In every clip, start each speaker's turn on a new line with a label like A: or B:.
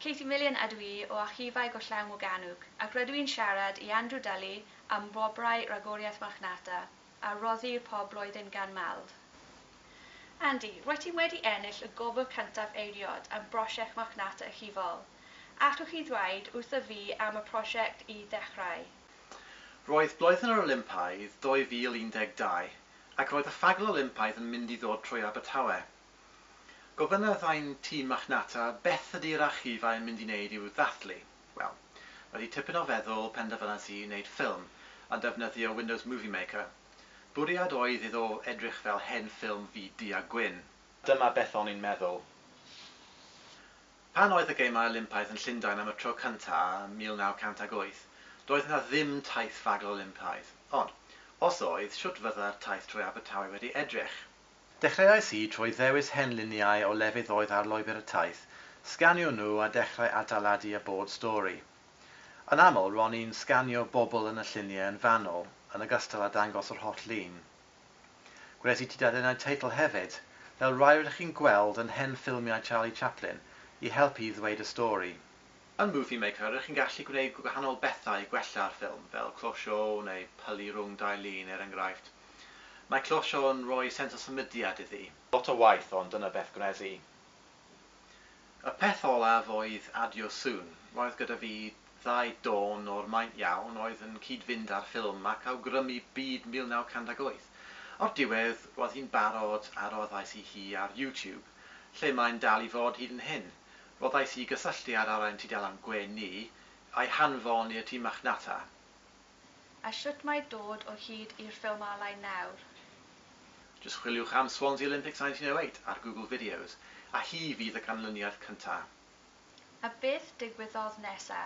A: Katie Million ydw i o Archifau Gollewin Morgannwg ac rydw i'n siarad i Andrew Dulley am wobrau Ragoriaeth Marchnata a roddir pob blwyddyn gan Mald. Andy, rwyt ti wedi ennill y gwobr cyntaf eiriod am brosiect Marchnata Archifol. Allwch chi ddweud wrtho fi am y prosiect i ddechrau? Roedd
B: Blwyddyn yr Olympaidd 2012 ac roedd y Fagl Olympaidd yn mynd i ddod trwy Abertawe. Gofynnodd ein tîm marchnata beth ydi'r archifau yn mynd i wneud i'w ddathlu. Wel, wedi tipyn o feddwl penderfynais i wneud ffilm a defnyddio Windows Movie Maker. Bwriad oedd iddo edrych fel hen ffilm ddu du a gwyn. Dyma beth o'n i'n meddwl. Pan oedd y Gemau Olympaidd yn Llundain am y tro cyntaf ym 1908, doedd yna ddim taith fagl Olympaidd. Ond, os oedd, shwt fydda'r taith trwy Abertawe wedi edrych? Dechreuais i trwy ddewis hen luniau o lefydd oedd ar lwybr y taith, sganio nhw a dechrau adeiladu y bord stori. Yn aml, ro'n i'n sganio bobl yn y lluniau yn fanwl, yn ogystal â dangos yr holl lun. Gwnes i dudalennau teitl hefyd, fel rai rydych chi'n gweld yn hen ffilmiau Charlie Chaplin, i helpu i ddweud y stori. Yn Movie Maker, rŷch chi'n gallu gwneud gwahanol bethau i gwella'r ffilm, fel closio neu pylu rhwng dau lun, er enghraifft. Mae closio yn rhoi sens o symudiad iddi. Lot o waith, ond dyna beth gwnes i. Y peth olaf oedd adio sŵn. Roedd gyda fi ddau dôn o'r maint iawn oedd yn cyd-fynd â'r ffilm ac awgrymu byd 1958. O'r diwedd, roedd hi'n barod a roddais i hi ar YouTube, lle mae'n dal i fod hyd yn hyn. Rhoddais i gysylltiad ar ein tudalen gwe ni, a'i hanfon i'r tîm marchnata.
A: A shwt mae dod o hyd i'r ffilm alain nawr? Jyst
B: chwiliwch am Swansea Olympics 1908 ar Google Videos, a hi fydd y canlyniad cynta. A
A: beth digwyddodd nesa?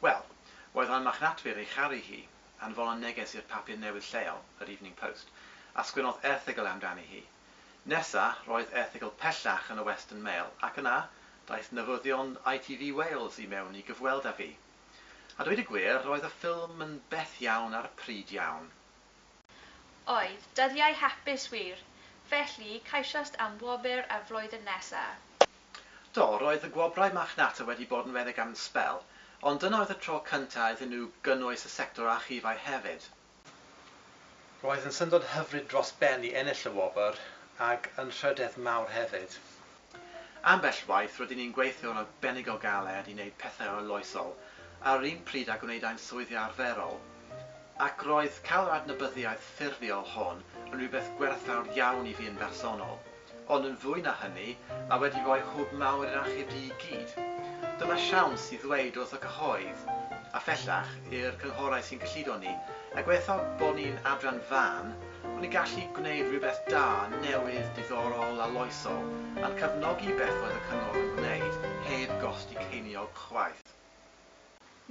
B: Wel, roedd ein marchnatwyr ei charu hi. Anfonodd neges i'r papur newydd lleol, yr Evening Post, a sgwennodd erthygl amdani hi. Nesa, roedd erthygl pellach yn y Western Mail, ac yna, daeth newyddion ITV Wales i mewn i gyfweld â fi. A dweud y gwir, roedd y ffilm yn beth iawn ar y pryd iawn.
A: Oedd, dyddiau hapus wir! Felly, ceisiast am wobr y flwyddyn nesa? Do,
B: roedd y gwobrau marchnata wedi bod yn redeg am sbel, ond dyna oedd y tro cynta' iddyn nhw gynnwys y sector archifau hefyd. Roedd yn syndod hyfryd dros ben i ennill y wobr, ac yn rhydedd mawr hefyd. Ambell waith rydyn ni'n gweithio'n arbennig o galed i wneud pethau arloesol ar yr un pryd â gwneud ein swyddi arferol, ac roedd cael yr adnabyddiaeth ffurfiol hon yn rhywbeth gwerthfawr iawn i fi yn bersonol. Ond yn fwy na hynny, mae wedi rhoi hwb mawr i'r achub du i gyd. Dyma siawns i ddweud wrth y cyhoedd, a phellach i'r cynghorau sy'n gyllido ni, a gobeithio bod ni'n adran fân, bod ni'n gallu gwneud rhywbeth da, newydd, diddorol a loesol, a'n cefnogi beth oedd y cyngor yn gwneud heb gost i ceiniog chwaith.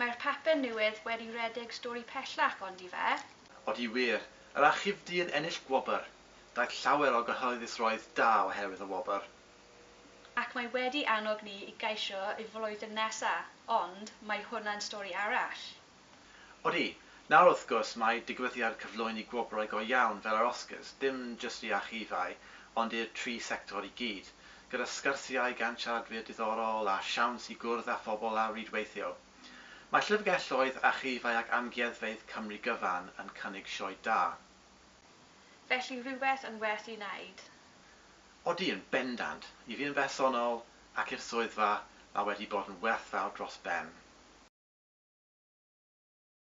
A: Mae'r papur newydd wedi rhedeg stori pellach, ondife? Odi wir.
B: Yr achub du yn ennill gwobr. Daeth llawer o gyhoeddusrwydd da oherwydd y wobr. Ac
A: mae wedi annog ni i geisio y flwyddyn nesa, ond mae hwnna'n stori arall. Odi,
B: nawr wrth gwrs mae digwyddiad cyflwyni gwobrau go iawn fel yr Oscars, dim jyst i archifau, ond i'r tri sector i gyd, gyda sgyrsiau gan siaradwyr diddorol a siawns i gwrdd â phobl a rhwydweithio. Mae Llyfrgelloedd, Archifau ac Amgueddfeydd Cymru gyfan yn cynnig sioe da.
A: Felly rhywbeth yn werth ei wneud. Odi,
B: yn bendant. I fi yn bersonol, ac i'r swyddfa, mae wedi bod yn werthfawr dros ben.